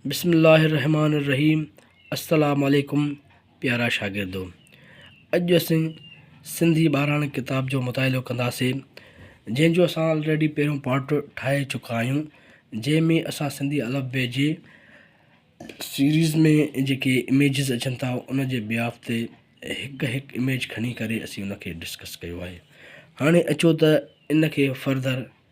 بسم الله الرحمٰن الرحيم السلام عليڪم پيارا شاگردو اڄ اسين سنڌي ٻاراڻي ڪتاب جو مطالعو ڪنداسين جنهن جو اسان آلريڊي پهريون پارٽ ٺاهي چڪا آهيون جنهن ۾ اسان سنڌي الف بي جي سيريز ۾ جيڪي اميجز اچن ٿا ان جي بياف تي هڪ هڪ اميج کڻي ڪري اسين ان کي ڊسڪس ڪيو آهي هاڻي اچو ته ان کي فردر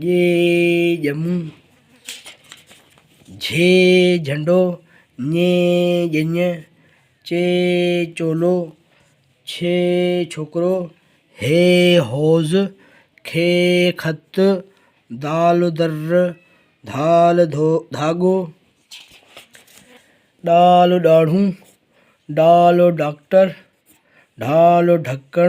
ڄي ڄمون، جھي جھنڊو، ڃي ڄڃ، چي چولو، ڇي ڇوڪرو، ھي ھوز، کي خط، دال در، ڌال ڌاڳو، ڏال ڏاڙھون، ڊال ڊاڪٽر، ڍال ڍڪڻ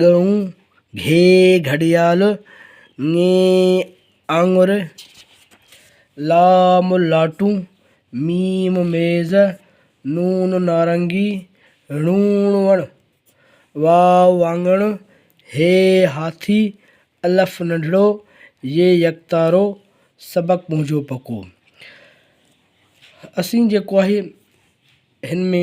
ڳئون، گهي، گهڙيال، ڱي، آڱر، لام، لاٽون، ميم، ميز، نون، نارنگي، ڻون، وڻ، واو، واڱڻ، هي، هاٿي، الف، ننڍڙو، ي، يڪتارو، سبق منهنجو پڪو اسين جيڪو آهي هن ۾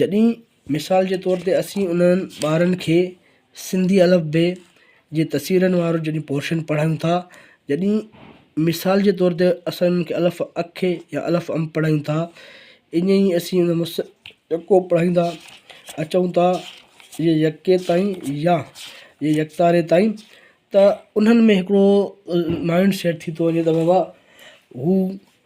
جڏهن مثال جي طور تي اسين انهن ٻارن کي سنڌي الف بي جي تصويرن وارو جڏهن پورشن پڙهائيون ٿا جڏهن مثال جي طور تي اسان انهن کي الف اک يا الف ام پڙهائيون ٿا ائين ئي اسين انهن مس يڪو پڙهائيندا اچون ٿا يا يڪي تائين يا يا يڪتاري تائين ته انهن ۾ هڪڙو مائنڊ سيٽ ٿي ٿو وڃي ته بابا هو